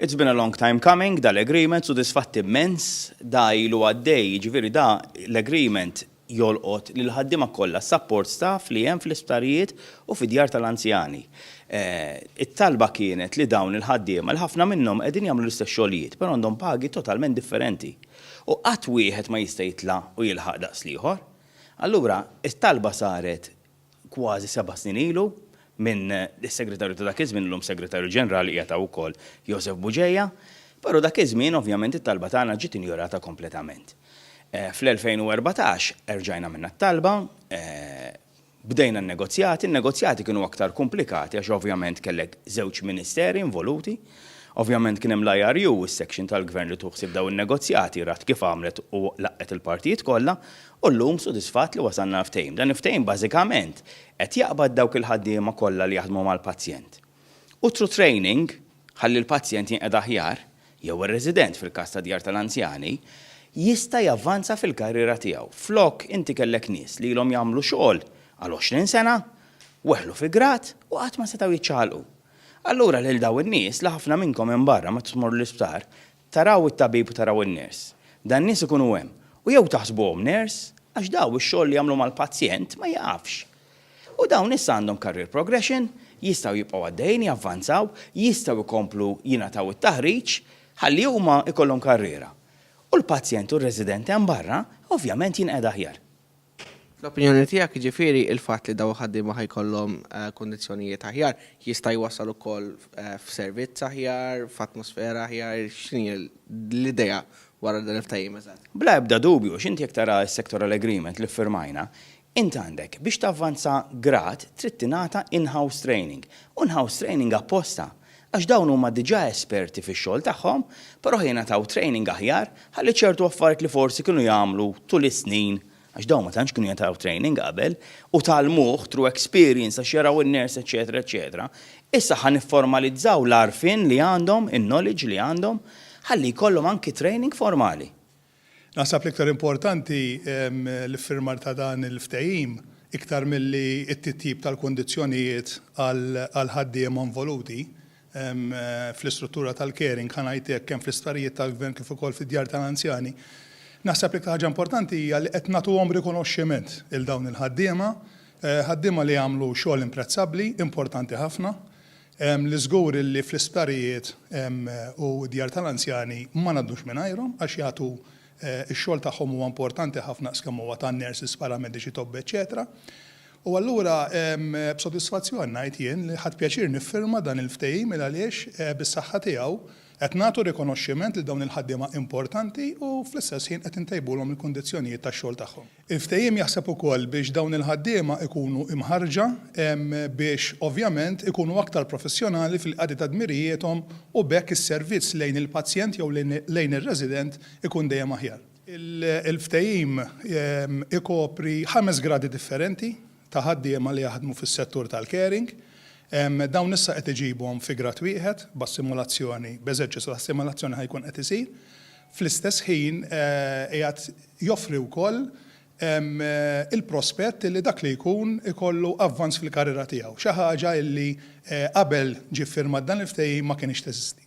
It's been a long time coming, da l-agreement sodisfatt immens, da ilu għaddej, jiġifieri da l-agreement jolqot lill-ħaddiema kollha, s-support staff li hemm fl-isptarijiet u fid-djar tal-anzjani. It-talba kienet li dawn il-ħaddiema, li ħafna minnhom qegħdin jagħmlu l-istess xogħlijiet, però għandhom pagi totalment differenti. U qatt wieħed ma jista' jitla' u jilħaq daqs l-ieħor. Allura, it-talba saret kważi seba' snin ilu minn is-Segretarju ta' dak iż-żmien, illum Segretarju Ġenerali, qiegħed hawn ukoll, Joseph Bugeja, però dak iż-żmien ovvjament it-talba tagħna ġiet injorata kompletament. Fl-2014 erġajna għamilna t-talba, bdejna n-negozjati, in-negozjati kienu aktar kumplikati għax ovvjament kellek żewġ ministeri involuti, ovvjament kien hemm l-IRU, is-section tal-Gvern li tieħu ħsieb dawn in-negozjati, rat kif għamlet u laqgħet il-partijiet kollha, U llum sodisfatt li wasalna għal ftehim. Dan il-ftehim bażikament qed jaqbad dawk il-ħaddiema kollha li jaħdmu mal-pazjent. U through training, ħalli l-pazjent jinqeda aħjar, jew ir-resident fil-każ ta' djar tal-anzjani, jista' javvanza fil-karriera tiegħu. Flok inti kellek nies li ilhom jagħmlu xogħol għal għoxrin sena, weħlu fi grad u qatt ma setgħu jiċċaqalqu. Allura lil dawn in-nies, li ħafna minnkom hemm barra meta tmorru l-isptar, Taraw it-tabib u taraw in-ners. Dan nies ikunu hemm. U jew taħsbuhom ners, għax daw ix-xogħol li jagħmlu mal-pazjent ma jieqafx. U dawn issa għandhom career progression, jistgħu jibqgħu għaddejjin, javvanzaw, jistgħu jkomplu jingħataw it-taħriġ ħalli huma jkollhom karriera. U l-pazjent u r-resident hemm barra ovvjament jinqegħed aħjar. Fl-opinjoni tiegħek, jiġifieri, il-fatt li dawn il-ħaddiema ħa jkollhom kundizzjonijiet aħjar jista' jwassal ukoll f'servizz aħjar, f'atmosfera aħjar, x'inhi l-idea wara dan il-ftehim eżatt? Bla ebda dubju, għax inti jekk tara s-sectoral agreement li ffirmajna, int għandek biex tavvanza grad trid tingħata in-house training, u in-house training apposta għax dawn huma diġà esperti fix-xogħol tagħhom, però jingħataw training aħjar ħalli ċertu affarijiet li forsi kienu jagħmlu tul is-snin, għax dawn ma tantx kienu jingħataw training qabel, u tgħallmuh through experience għax jaraw in-nurse eċċetera eċċetera, issa ħa nifformalizzaw l-għarfien li għandhom, in-knowledge li għandhom, ħalli jkollhom anki training formali. Naħseb l-iktar importanti l-iffirmar ta' dan il-ftehim iktar milli t-titjib tal-kundizzjonijiet għall-ħaddiema involuti fl-istruttura tal-caring, ħa ngħid hekk, kemm fl-isptarijiet tal-Gvern kif ukoll fid-djar tal-anzjani. Naħseb l-iktar ħaġa importanti hija li qed nagħtuhom rikonoxximent lil dawn il-ħaddiema, ħaddiema li jagħmlu xogħol imprezzabbli, importanti ħafna, Li żgur illi fl-isptarijiet u d-djar tal-anzjani ma ngħaddux mingħajrhom għax jagħtu x-xogħol tagħhom huwa importanti ħafna daqs kemm huwa tan-nurses, paramediċi, tobba eċċetera. U allura b'sodisfazzjon ngħid jien li ħadt pjaċir niffirma dan il-ftehim il għaliex bis-saħħa tiegħu qed nagħtu rikonoxximent lil dawn il-ħaddiema importanti u fl-istess ħin qed intejbulhom il-kundizzjonijiet tax-xogħol tagħhom. Il-ftehim jaħseb ukoll biex dawn il-ħaddiema jkunu imħarrġa biex ovvjament ikunu aktar professjonali fil-qadi ta' dmirijiethom u b'hekk is-servizz lejn il-pazjent jew lejn ir-resident ikun dejjem aħjar. Il-ftehim ikopri ħames gradi differenti ta' ħaddiema li jaħdmu fis-settur tal-caring. Dawn issa qed iġibhom fi grad wieħed b'assimulazzjoni, b'eżerċizzju ta' assimulazzjoni ħa jkun qed isir. Fl-istess ħin qiegħed joffri wkoll il-prospett li dak li jkun ikollu avvanz fil-karriera tiegħu, xi ħaġa li qabel ġie ffirmat dan il-ftehim ma kinitx teżisti.